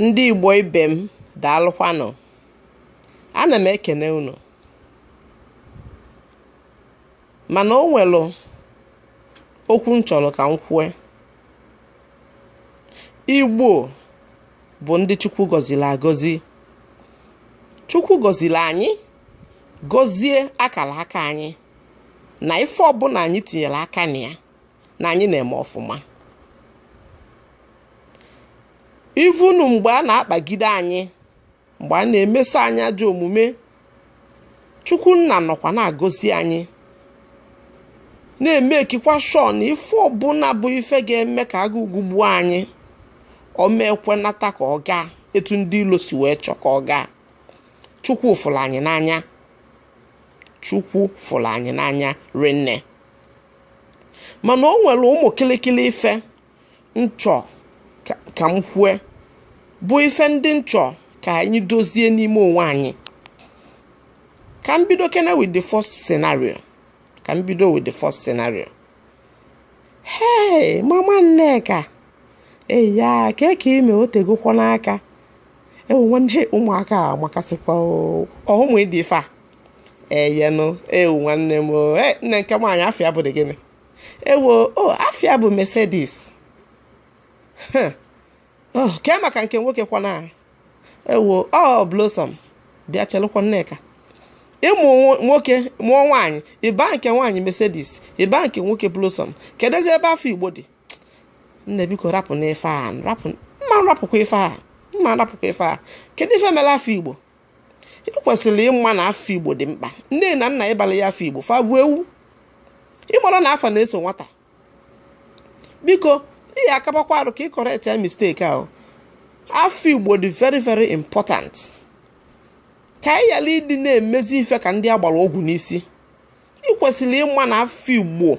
Ndị Igbo ibe m daalụkwanụ. Ana m ekene unu. Mana o nwere okwu m chọrọ ka m kwue. Igbo bụ ndị Chukwu gọziri agọzi. Chukwu gọziri anyị gọzie akara aka anyị na ife ọbụna anyị tinyere aka na ya. na anyị na-eme ọfụma even mgbe a na-akpagide anyị mgbe a na-emeso anyị ajọ omume chukwu nna nọkwa na-agọzi anyị na-emekikwa sure na ife ọbụna bụ ife ga-eme ka agụụ gụgbuo anyị ọ ma-ekwenata ka ọ gaa etu ndị ilo si wee chọọ ka ọ gaa chukwu fụrụ anyị n'anya chukwu fụrụ anyị n'anya rinne mana o nwere ụmụ kịlịkịlị ife m chọ ka m kwue bụ ife ndị m chọ ka anyị dozie n'ime onwe anyị ka m bidokene with the first scenario ka m bido with the first scenario hey mama nneka eya kee ka ị me o tegokwanụ aka ewo nwanne ụmụaka amakasịkwa ọ ụmụ ị dị ife a eyenụ ewu nwanne m e, nne nke nwaanyị afa ya bụdị gịnị ewo o afa ya bụ Mercedes oh, kee maka nke nwoke kwana ewo ọ Blossom bịa chelụkwa Nneka ị mụọ nwoke mụọ nwaanyị ị baa nke nwaanyị Mercedes ị baa nke nwoke Blossom kedụzi ebe afa Igbo dị nne biko rapụnụ ife a rapụ m ma-arapụkwa ife a m ma-arapụkwa ife a kedu ife mere afa Igbo i kwesịrị ịma na afa igbo dị mkpa nne na nna ị balụ ị afa igbo fa bụ ewu ị marọ na afa na-eso nwata biko ihe akabakwarọ ka ị correctie mistake ahụ afa igbo dị very very important ka anyị ghara ịdị na-emezi ife ka ndị a gbara ọgwụ n'isi i kwesịrị ịma na afa igbo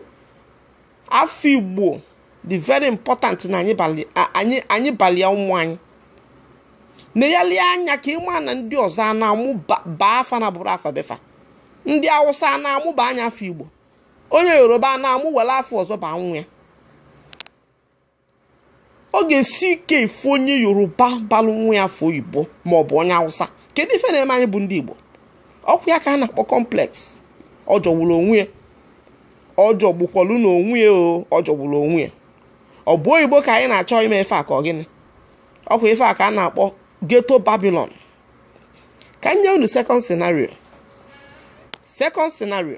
afa igbo dị very important na anyị balia ụmụ anyị negharịa anya ka ị ma na ndị ọzọ a na-amụ baa afa na-abụrọ afa be fa ndị awụsa a na-amụ baa ya afa igbo onye yoruba a na-amụ were afa ọzọ ba nwa ya ọ ga-esi ike ịfụ onye yoruba balụ nwa ya afa oyibo ma ọ bụ onye awụsa kedu ife na-eme anyị bụ ndị igbo ọ kwa ya ka a na-akpọ complex ọ jọgburu onwe ya ọ jọgbukwọlu na onwe ya o ọ jọgburu onwe ya ọ bụ oyibo ka anyị na-achọ ime ife a ka ọ gịnị ọ kwa ife a ka a na-akpọ ghetto babylon ka m nye unu second scenario second scenario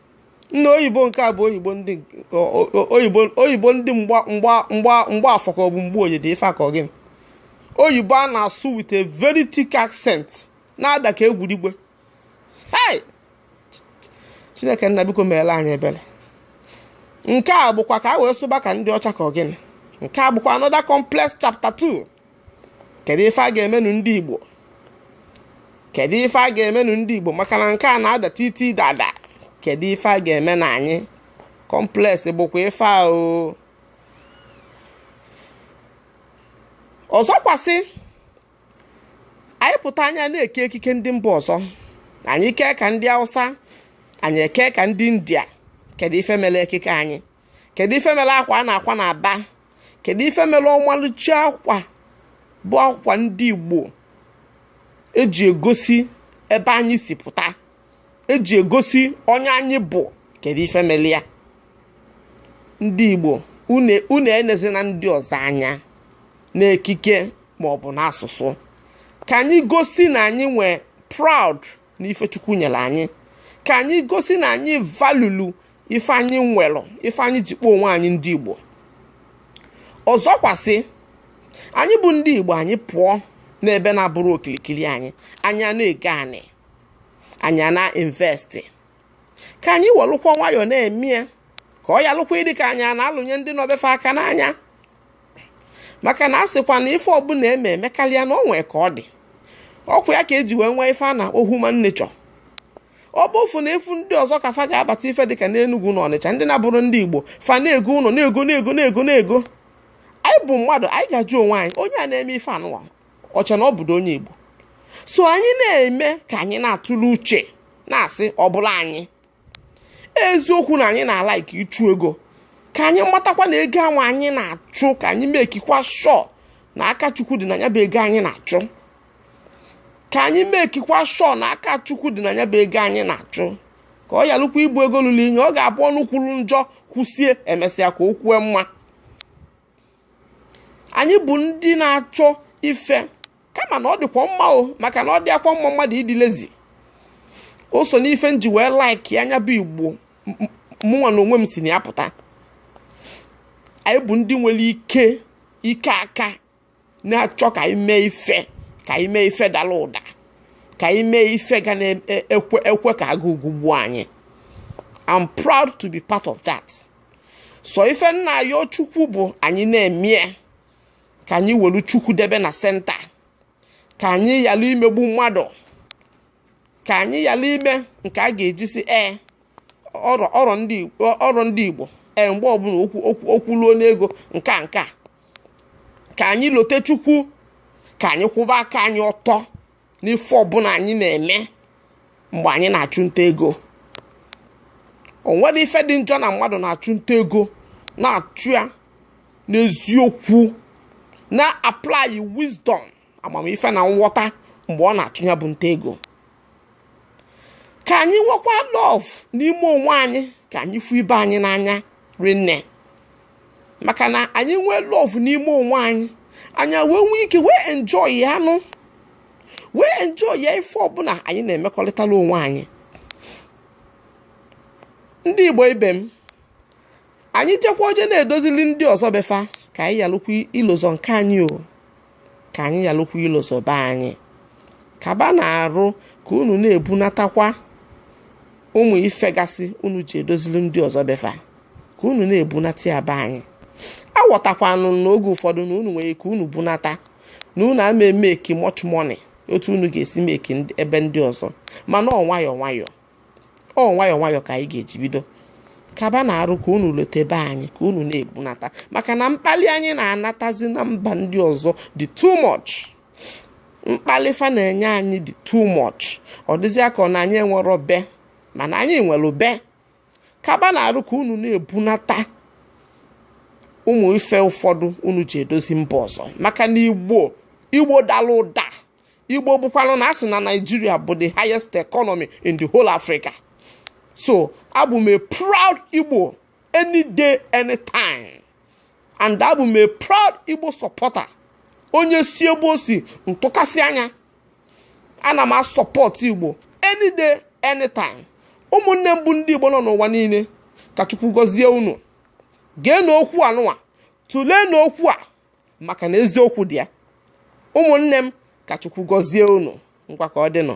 nna oyibo nke a bụ oyibo oyibo ndị mgbafọ ka ọ bụ mgboye de ife ka ọ gịnị oyibo a na-asụ with a very thick accent na-ada ka egwurigwe hai chineke nna biko meela anyị ebere nke a bụkwa ka a wee sụba ka ndị ọcha ka ọ gịnị nke a bụkwa another complex chapter 2 kedu ife a ga-emenụ ndị Igbo kedu ife a ga-emenụ ndị Igbo maka na nke a na-ada titi dada kedu ife a ga-emenụ anyị complex bụkwa ife ahụ ọzọkwasị anyị pụta anyị a na-eke ekike ndị mba ọzọ anyị kee ka ndị Hausa anyị eke ka ndị India kedu ife mere ekike anyị kedu ife mere akwa a na-akwa n'Aba kedu ife mere ọmalịcha akwa bụ akwa ndị igbo eji egosi ebe anyị si pụta eji egosi onye anyị bụ kedu ife mere ya ndị igbo unu enezina ndị ọzọ anya n'ekike maọbụ n'asụsụ ka anyị gosi na anyị nwee proud n'ife chukwu nyere anyị ka anyị gosi na anyị valuelu ife anyị nwere ife anyị ji kpọọ onwe anyị ndị Igbo ọzọkwasị anyị bụ ndị Igbo anyị pụọ n'ebe na-abụrọ okirikiri anyị anyị a na-ego anị anyị a na-investi ka anyị welụkwa nwayọọ na-eme ya ka ọ yalụkwa ịdị ka anyị na-alụnye ndị nọ be fa aka n'anya maka na a sịkwa na ife ọbụla eme emekarịa na o nwee ka ọ dị ọkwa ya ka eji wee nwee ife a na-akpọ human nature ọ bụ ofu na efu ndị ọzọ ka fa ga-abata ife dịka n'Enugu na Ọnịcha ndị na-abụrọ ndị Igbo fa na-ego ụlọ na-ego na-ego na-ego na-ego anyị bụ mmadụ anyị ga-ajụ onwe anyị onye a na-eme ife anụwa ọcha na ọ bụdo onye Igbo so anyị na-eme ka anyị na-atụle uche na-asị ọ bụla anyị eziokwu na anyị na-ala ike ịchụ ego ka anyị matakwa na ego ahụ anyị na-achụ ka anyị mekikwa sure na aka chukwu dị na ya bụ ego anyị na-achụ ka anyị mekikwa sure na aka chukwu dị na ya bụ ego anyị na-achụ ka ọ yalụkwa ịbụ ego lụrụ inyi ọ ga-abụ ọnụ kwuru njọ kwusie emesịa ka o kwue mma anyị bụ ndị na-achọ ife kama na ọ dịkwa mma o maka na ọ dịrọkwa mma mmadụ ịdị lazy o so n'ife m ji wee like ya bụ igbo mụnwa na onwe m si na ya pụta anyị bụ ndị nwere ike ike aka na-achọ ka anyị mee ife ka anyị mee ife dara ụda ka anyị mee ife ga na-ekwe e, ekwe ka agụụ gbuo anyị I'm proud to be part of that so ife m na-ayọ chukwu bụ anyị na-eme ya ka anyị welu chukwu debe na centre ka anyị yalụ imegbu mmadụ ka anyị yalụ ime nke a ga-eji sị ee ọrọ ndị Igbo ee mgbe ọbụna okwu okwu okwu luo n'ego nke a nke a ka anyị lote Chukwu ka anyị kwụba aka anyị ọtọ n'ife ọbụna anyị na-eme mgbe anyị na-achụ nta ego o nwerọ ife dị njọ na mmadụ na-achụ nta ego na-achụ ya n'eziokwu na-apply wisdom amamife na nghọta mgbe ọ na-achụ ya bụ nta ego ka anyị nwekwa love n'ime onwe anyị ka anyị fụ ibe anyị n'anya rinne maka na anyị nwee love n'ime onwe anyị anyị ewee nwee ike wee enjoy ya anyị ewee enjoy ya ife ọbụna anyị na-emekọrịtara onwe anyị ndị igbo ibe m anyị jekwa oje na-edozili ndị ọzọ be fa ka anyị yalụkwa ilozọ nke anyị o ka anyị yalụkwa ilozọ be anyị kaba na-arụ ka unu na-ebunatakwa ụmụ ife gasị unu ji edozili ndị ọzọ be fa ka unu na-ebunata ya be anyị a ghọtakwanụ n'oge ụfọdụ na unu nwere ike unu bunata na unu ama emeki much money otu unu ga-esi meki ebe ndị ọzọ mana ọ nwayọọ nwayọọ ọ nwayọọ nwayọọ ka anyị ga-eji bido kaba na-arụ ka unu lote be anyị ka unu na-ebunata maka na mkpalị anyị na-anatazi na mba ndị ọzọ dị too much mkpalị fa na-enye anyị dị too much ọ dịzịa ka ọ na anyị enwerọ be mana anyị nwere be kaba na-arụ ka unu na-ebunata ụmụ ife ụfọdụ unu ji edozi mba ọzọ maka na igbo igbo dalụ ụda igbo bụkwanụ na a sị na nigeria bụ the highest economy in the whole africa so abụ m a proud igbo any day anytime and abụ m a proud igbo supporter onye si ebe o si ntụkasị anya ana m asupport igbo any day anytime ụmụnne m bụ ndị igbo nọ n'ụwa niile ka chukwu gọzie unu geenụ okwu anụwa tụleenụ okwu a maka na eziokwu dị ya ụmụnne m ka chukwu gọzie unu ngwa ka ọ dịnụ